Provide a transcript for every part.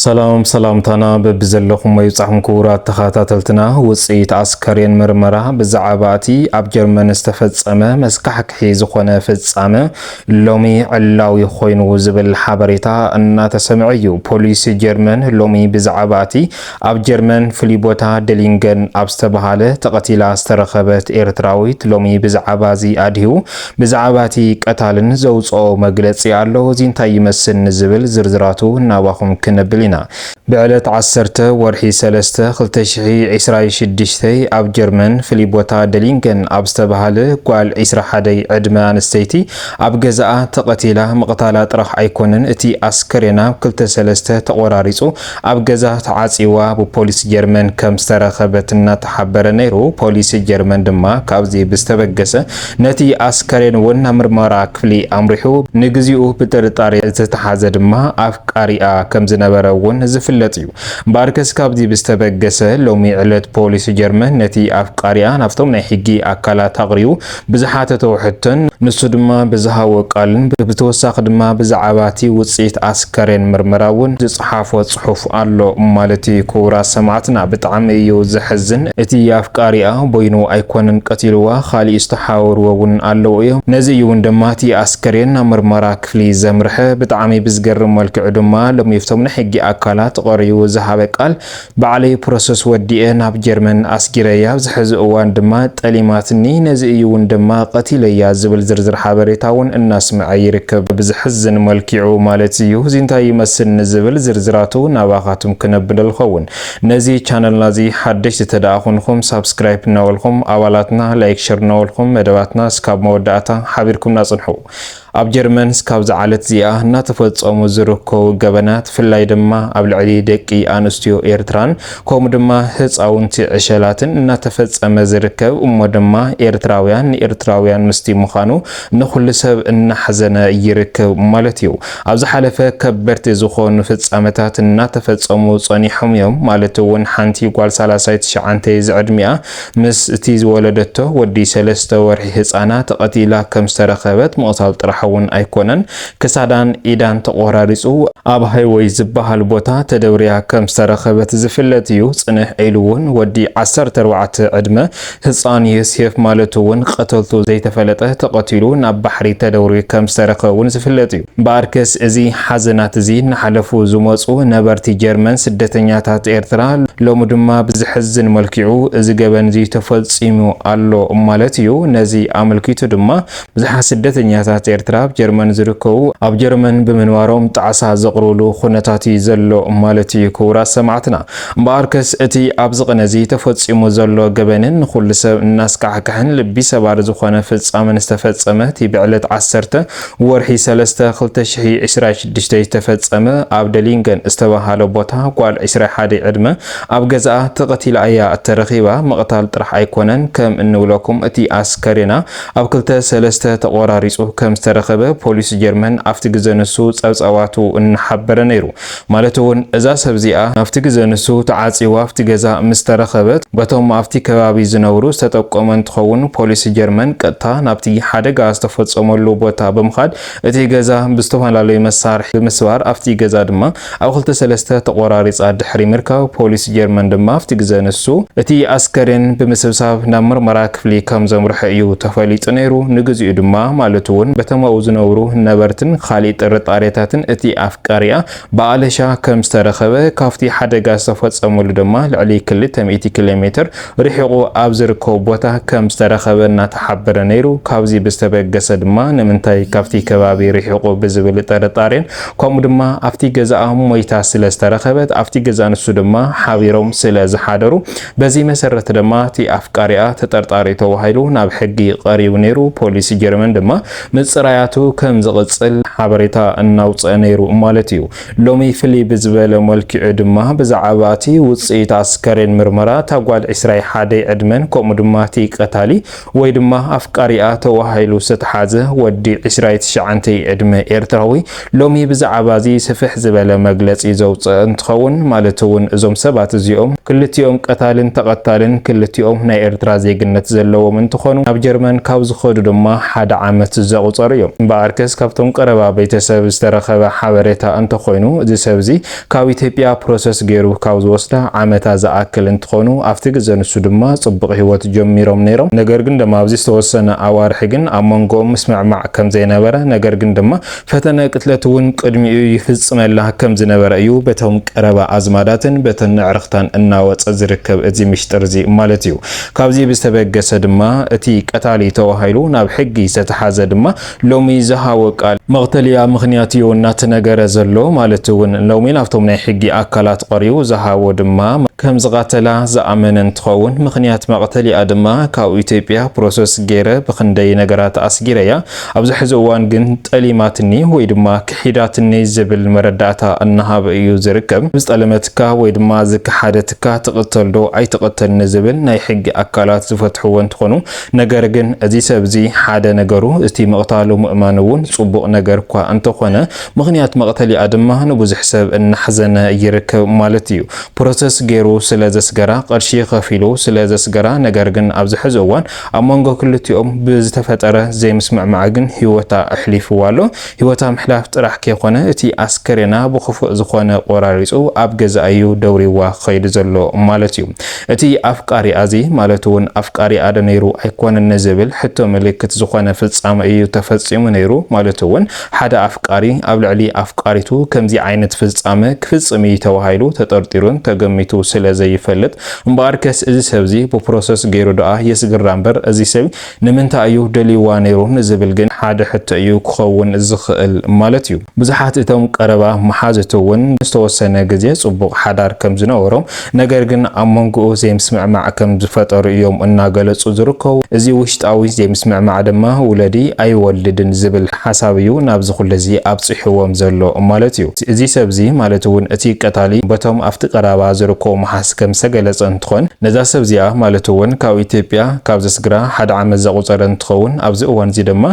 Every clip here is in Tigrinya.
ሰላም ሰላምታና በብዘለኹሞ ይብጻሕኩም ክቡራት ተኸታተልትና፣ ውጽኢት ኣስከሬን ምርመራ ብዛዕባ እቲ ኣብ ጀርመን ዝተፈጸመ መስካሕክሒ ዝኾነ ፍጻመ ሎሚ ዕላዊ ኮይኑ ዝብል ሓበሬታ እናተሰምዐ እዩ። ፖሊስ ጀርመን ሎሚ ብዛዕባ እቲ ኣብ ጀርመን ፍሉይ ቦታ ደሊንገን ኣብ ዝተባሃለ ተቐቲላ ዝተረኸበት ኤርትራዊት ሎሚ ብዛዕባ እዚ ኣድሂቡ ብዛዕባ እቲ ቀታልን ዘውጽኦ መግለጺ ኣሎ፣ እዚ እንታይ ይመስል ንዝብል ዝርዝራቱ ናባኹም ክነብል ኢና። ብዕለት ዓሰርተ ወርሒ ሰለስተ ክልተ ሽሕይ ዕስራይ ሽዱሽተ ኣብ ጀርመን ፍልይ ቦታ ደሊንገን ኣብ ዝተባሃለ ጓል ዕስራ ሓደይ ዕድመ ኣንስተይቲ ኣብ ገዛኣ ተቐቲላ ምቕታላ ጥራሕ ኣይኮነን እቲ ኣስከሬና ክልተ ሰለስተ ተቖራሪጹ ኣብ ገዛ ተዓጽዋ ብፖሊስ ጀርመን ከም ዝተረኸበት እናተሓበረ ነይሩ። ፖሊስ ጀርመን ድማ ካብዚ ብዝተበገሰ ነቲ ኣስከሬን ወና ምርመራ ክፍሊ ኣምሪሑ። ንግዚኡ ብጥርጣሬ ዝተታሓዘ ድማ ኣፍቃሪኣ ከም ዝነበረ እውን ዝፍለጥ እዩ። እምበኣርከስ ካብዚ ብዝተበገሰ ሎሚ ዕለት ፖሊስ ጀርመን ነቲ ኣፍቃሪኣ ናብቶም ናይ ሕጊ ኣካላት ኣቕሪቡ ብዝሓተቶ ሕቶን ንሱ ድማ ብዝሃቦ ቃልን ብተወሳኺ ድማ ብዛዕባቲ ውፅኢት ኣስከሬን ምርመራ እውን ዝፀሓፎ ፅሑፍ ኣሎ ማለት እዩ ክቡራት ሰማዕትና ብጣዕሚ እዩ ዘሕዝን እቲ ኣፍቃሪኣ ቦይኑ ኣይኮነን ቀቲልዋ ካሊእ ዝተሓባበርዎ እውን ኣለዉ እዮም ነዚ እዩ እውን ድማ እቲ ኣስከሬን ናብ ምርመራ ክፍሊ ዘምርሐ ብጣዕሚ ብዝገርም መልክዑ ድማ ሎሚፍቶም ናይ ሕጊ ኣካላት ቐሪቡ ዝሃበ ቃል ባዕለይ ፕሮሰስ ወዲኤ ናብ ጀርመን ኣስጊረያ ኣብዚ ሐዚ እዋን ድማ ጠሊማትኒ ነዚ እዩ እውን ድማ ቀቲለያ ዝብል ዝርዝር ሓበሬታ እውን እናስመዐ ይርከብ ብዝሕዝን መልኪዑ ማለት እዩ እዚ እንታይ ይመስል ንዝብል ዝርዝራቱ ናባኻቱም ክነብለ ልኸውን ነዚ ቻነልና እዚ ሓደሽቲ ተደኣ ኹንኹም ሳብስክራይፕ እናበልኹም ኣባላትና ላይክ ሸር እናበልኹም መደባትና እስካብ መወዳእታ ሓቢርኩምና ፅንሑ ኣብ ጀርመን ስካብዚ ዓለት እዚኣ እናተፈጸሙ ዝርከቡ ገበናት ፍላይ ድማ ኣብ ልዕሊ ደቂ ኣንስትዮ ኤርትራን ከምኡ ድማ ህጻውንቲ ዕሸላትን እናተፈጸመ ዝርከብ እሞ ድማ ኤርትራውያን ንኤርትራውያን ምስቲ ምዃኑ ንኹሉ ሰብ እናሕዘነ ይርከብ ማለት እዩ። ኣብ ዝሓለፈ ከበድቲ ዝኾኑ ፍጻመታት እናተፈጸሙ ጸኒሖም እዮም ማለት እውን ሓንቲ ጓል ሳላሳይ ትሽዓንተ ዝዕድሚኣ ምስ እቲ ዝወለደቶ ወዲ ሰለስተ ወርሒ ህጻና ተቐቲላ ከም ዝተረኸበት ምቕታል ጥራሕ እውን ኣይኮነን ክሳዳን ኢዳን ተቖራሪጹ ኣብ ሃይወይ ዝበሃል ቦታ ተደብርያ ከም ዝተረኸበት ዝፍለጥ እዩ። ጽንሕ ኢሉ እውን ወዲ ዓሰርተ ኣርባዕተ ዕድመ ህጻን ዮሴፍ ማለት እውን ቐተልቱ ዘይተፈለጠ ተቐቲሉ ናብ ባሕሪ ተደውርዩ ከም ዝተረኸበ እውን ዝፍለጥ እዩ። እምበኣርከስ እዚ ሓዘናት እዚ እናሓለፉ ዝመጹ ነበርቲ ጀርመን ስደተኛታት ኤርትራ ሎሚ ድማ ብዘሕዝን መልክዑ እዚ ገበን እዚ ተፈጺሙ ኣሎ ማለት እዩ። ነዚ ኣመልኪቱ ድማ ብዙሓት ስደተኛታት ኤርትራ ኣብ ጀርመን ዝርከቡ ኣብ ጀርመን ብምንባሮም ጣዕሳ ዘቕርብሉ ኩነታት እዩ ዘሎ ማለት እዩ ክቡራት ሰማዕትና። እምበኣርከስ እቲ ኣብዚ ቅነ እዚ ተፈጺሙ ዘሎ ገበንን ንኹሉ ሰብ እናስካሕክሕን ልቢ ሰባሪ ዝኾነ ፍጻመን ዝተፈጸመ እቲ ብዕለት ዓሰርተ ወርሒ ሰለስተ ክልተ ሽሕይ ዕስራይ ሽዱሽተ ዝተፈጸመ ኣብ ደሊንገን ዝተባሃለ ቦታ ጓል ዕስራይ ሓደይ ዕድመ ኣብ ገዛኣ ተቐቲላ እያ እተረኺባ ምቕታል ጥራሕ ኣይኮነን ከም እንብለኩም እቲ ኣስከሬና ኣብ ክልተ ሰለስተ ተቖራሪጹ ከም ዝተረኸበ ፖሊስ ጀርመን ኣብቲ ግዘ ንሱ ጸብጻባቱ እናሓበረ ነይሩ ማለት እውን እዛ ሰብ እዚኣ ናብቲ ግዘ ንሱ ተዓፅይዋ ኣብቲ ገዛ ምስ ተረኸበት በቶም ኣብቲ ከባቢ ዝነብሩ ዝተጠቆመ እንትኸውን ፖሊስ ጀርመን ቀጥታ ናብቲ ሓደጋ ዝተፈፀመሉ ቦታ ብምኻድ እቲ ገዛ ብዝተፈላለዩ መሳርሒ ብምስባር ኣብቲ ገዛ ድማ ኣብ ክልተ ሰለስተ ተቖራሪፃ ድሕሪ ምርካብ ፖሊስ ጀርመን ድማ ኣብቲ ግዘ ንሱ እቲ ኣስከሬን ብምስብሳብ ናብ ምርመራ ክፍሊ ከም ዘምርሖ እዩ ተፈሊጡ ነይሩ ንግዚኡ ድማ ማለት እውን በቶም ኣብኡ ዝነብሩ ነበርትን ካሊእ ጥርጣሬታትን እቲ ቃርያ ብኣለሻ ከም ዝተረኸበ፣ ካብቲ ሓደጋ ዝተፈጸመሉ ድማ ልዕሊ ክልተ ሚእቲ ኪሎ ሜትር ርሒቑ ኣብ ዝርከቡ ቦታ ከም ዝተረኸበ እናተሓበረ ነይሩ። ካብዚ ብዝተበገሰ ድማ ንምንታይ ካብቲ ከባቢ ርሒቑ ብዝብል ጥርጣሬን ከምኡ ድማ ኣብቲ ገዛኣ ሞይታ ስለ ዝተረኸበት ኣብቲ ገዛ ንሱ ድማ ሓቢሮም ስለ ዝሓደሩ በዚ መሰረት ድማ እቲ ኣፍቃሪኣ ተጠርጣሪ ተባሂሉ ናብ ሕጊ ቀሪቡ ነይሩ። ፖሊስ ጀርመን ድማ ምጽራያቱ ከም ዝቕጽል ሓበሬታ እናውጽኣ ነይሩ ማለት እዩ። ሎሚ ፍልይ ብዝበለ መልክዑ ድማ ብዛዕባ እቲ ውጽኢት ኣስከሬን ምርመራ እታ ጓል ዕስራይ ሓደይ ዕድመን ከምኡ ድማ እቲ ቀታሊ ወይ ድማ ኣፍቃሪኣ ተዋሂሉ ዝተትሓዘ ወዲ ዕስራይ ትሽዓንተይ ዕድመ ኤርትራዊ ሎሚ ብዛዓባ እዚ ስፍሕ ዝበለ መግለጺ ዘውጽእ እንትኸውን ማለት እውን እዞም ሰባት እዚኦም ክልቲኦም ቀታልን ተቐታልን ክልቲኦም ናይ ኤርትራ ዜግነት ዘለዎም እንትኾኑ ናብ ጀርመን ካብ ዝኸዱ ድማ ሓደ ዓመት ዘቑጸሩ እዮም። እምበኣርከስ ካብቶም ቀረባ ቤተሰብ ዝተረኸበ ሓበሬታ እንተኾይኑ እዚ ሰብ እዚ ካብ ኢትዮጵያ ፕሮሰስ ገይሩ ካብ ዝወስዳ ዓመታ ዝኣክል እንትኾኑ ኣብቲ ግዘ ንሱ ድማ ጽቡቕ ሂወት ጀሚሮም ነይሮም ነገር ግን ድማ ኣብዚ ዝተወሰነ ኣዋርሒ ግን ኣብ መንጎኦም ምስምዕማዕ ከምዘይነበረ ነገር ግን ድማ ፈተነ ቅትለት እውን ቅድሚኡ ይፍፅመላ ከም ዝነበረ እዩ በቶም ቀረባ ኣዝማዳትን በተን ኣዕርኽታን እናወፀ ዝርከብ እዚ ምሽጥር እዚ ማለት እዩ። ካብዚ ብዝተበገሰ ድማ እቲ ቀታሊ ተባሂሉ ናብ ሕጊ ዝተትሓዘ ድማ ሎሚ ዝሃቦ ቃል፣ መቕተልያ ምኽንያት እዩ እናተነገረ ዘሎ ማለት እውን ሎሚ ናብቶም ናይ ሕጊ ኣካላት ቐሪቡ ዝሃቦ ድማ ከም ዝቐተላ ዝኣመነ እንትኸውን ምኽንያት መቕተልያ ድማ ካብ ኢትዮጵያ ፕሮሰስ ገይረ ብኽንደይ ነገራት ኣስጊረያ ኣብዚ ሕዚ እዋን ግን ጠሊማትኒ ወይ ድማ ክሒዳትኒ ዝብል መረዳእታ እናሃበ እዩ ዝርከብ። ዝጠለመትካ ወይ ድማ ዝከሓደትካ ትቕተል ዶ ኣይትቕተል ንዝብል ናይ ሕጊ ኣካላት ዝፈትሕዎ እንትኾኑ ነገር ግን እዚ ሰብ እዚ ሓደ ነገሩ እቲ ምቕታሉ ምእማኑ እውን ፅቡቕ ነገር እኳ እንተኾነ ምኽንያት መቕተሊኣ ድማ ንብዙሕ ሰብ እናሕዘነ ይርከብ ማለት እዩ። ፕሮሰስ ገይሩ ስለ ዘስገራ፣ ቅርሺ ከፊሉ ስለ ዘስገራ ነገር ግን ኣብዚ ሕዚ እዋን ኣብ መንጎ ክልቲኦም ብዝተፈጠረ ዘይምስምዕማዕ ግን ህይወታ ኣሕሊፍዋ ኣሎ። ህይወታ ምሕላፍ ጥራሕ ከይኮነ እቲ ኣስከሬና ብኽፉእ ዝኾነ ቆራሪፁ ኣብ ገዝኣ እዩ ደውሪዋ ኸይዱ ዘሎ ማለት እዩ። እቲ ኣፍቃሪኣ እዚ ማለት እውን ኣፍቃሪኣ ዶ ነይሩ ኣይኮነን ንዝብል ሕቶ ምልክት ዝኾነ ፍፃመ እዩ ተፈፂሙ ነይሩ ማለት እውን ሓደ ኣፍቃሪ ኣብ ልዕሊ ኣፍቃሪቱ ከምዚ ዓይነት ፍፃመ ክፍፅም እዩ ተባሂሉ ተጠርጢሩን ተገሚቱ ስለ ዘይፈልጥ እምበኣርከስ እዚ ሰብዚ ብፕሮሰስ ገይሩ ደኣ የስግራ እምበር እዚ ሰብ ንምንታይ እዩ ደልይዋ ነይሩ ንዝብል ግን ሓደ ሕቶ እዩ ክኸውን ዝኽእል ማለት እዩ። ብዙሓት እቶም ቀረባ መሓዙቱ እውን ንዝተወሰነ ግዜ ጽቡቕ ሓዳር ከም ዝነበሮም ነገር ግን ኣብ መንጎኡ ዘይምስምዕማዕ ከም ዝፈጠሩ እዮም እናገለጹ ዝርከቡ። እዚ ውሽጣዊ ዘይምስምዕማዕ ድማ ውለዲ ኣይወልድን ዝብል ሓሳብ እዩ ናብዚ ኩሉዚ ኣብጺሕዎም ዘሎ ማለት እዩ። እዚ ሰብ'ዚ ማለት'ውን እቲ ቀታሊ በቶም ኣብቲ ቀራባ ዝርከቡ መሓዝ ከም ዝተገለጸ እንትኾን ነዛ ሰብ'ዚኣ ማለት'ውን ካብ ኢትዮጵያ ካብ ዘስግራ ሓደ ዓመት ዘቑጸረ እንትኸውን ኣብዚ እዋን'ዚ ድማ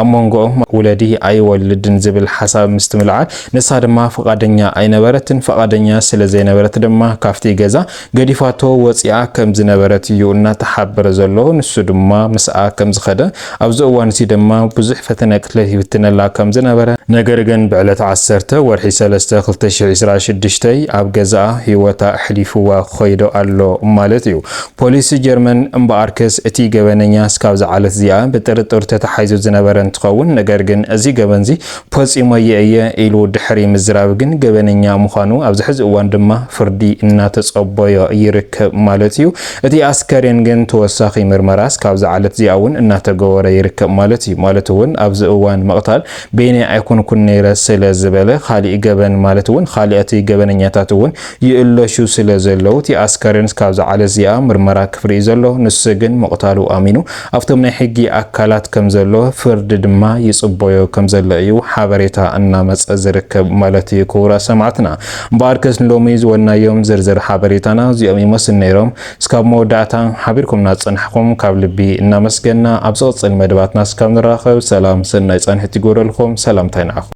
ኣብ ሞንጎኦም ውለዲ ኣይወልድን ዝብል ሓሳብ ምስትምልዓል ንሳ ድማ ፍቓደኛ ኣይነበረትን ፍቓደኛ ስለዘይነበረት ድማ ካብቲ ገዛ ገዲፋቶ ወጺኣ ከም ዝነበረት እዩ እናተሓበረ ዘሎ። ንሱ ድማ ምስኣ ከም ዝኸደ፣ ኣብዚ እዋን እዚ ድማ ብዙሕ ፈተነቅትለት ይፍትነላ ከም ዝነበረ፣ ነገር ግን ብዕለት ዓሰርተ ወርሒ ሰለስተ ክልተ ሽሕ ዒስራ ሽዱሽተይ ኣብ ገዛኣ ህይወታ ኣሕሊፉዋ ክኸይዶ ኣሎ ማለት እዩ። ፖሊስ ጀርመን እምበኣርከስ እቲ ገበነኛ እስካብዛ ዓለት እዚኣ ብጥርጥር ተታሓሒዙ ዝነበረ እንትኸውን፣ ነገር ግን እዚ ገበንዚ ፈጺሞዬ እየ ኢሉ ድሕሪ ምዝራብ ግን ገበነኛ ምዃኑ ኣብዚ ሕዚ እዋን ድማ ፍርዲ እናተጸበዮ ይርከብ ማለት እዩ። እቲ ኣስከሬን ግን ተወሳኺ ምርመራ እስካብዛ ዓለት እዚኣ እውን እናተገበሮ ይርከብ ማለት እዩ። ማለት እውን ኣብዚ እዋን ምቕታል በይነይ ኣይኮንኩን ነይረ ስለ ዝበለ ካሊእ ገበን ማለት እውን ካሊኣት ገበነኛታት እውን ይእለሹ ስለ ዘለው እቲ ኣስከሬን እስካብዛ ዓለት እዚኣ ምርመራ ክፍርዩ ዘሎ ንሱ ግን ምቕታሉ ኣሚኑ ኣብቶም ናይ ሕጊ ኣካላት ከምዘሎ ፍርዲ ድማ ይጽቦዮ ከምዘሎ እዩ ሓበሬታ እናመጸ ዝርከብ ማለት እዩ ክቡራት ሰማዕትና እምበኣርከስ ንሎሚ ዝወናዮም ዝርዝር ሓበሬታና እዚኦም ይመስሉ ነይሮም እስካብ መወዳእታ ሓቢርኩምና ዝጸናሕኩም ካብ ልቢ እናመስገና ኣብ ዝቕጽል መደባትና እስካብ ንራኸብ ሰላም ሰናይ ጻንሒት ይግበረልኩም ሰላምታይ ንዓኹም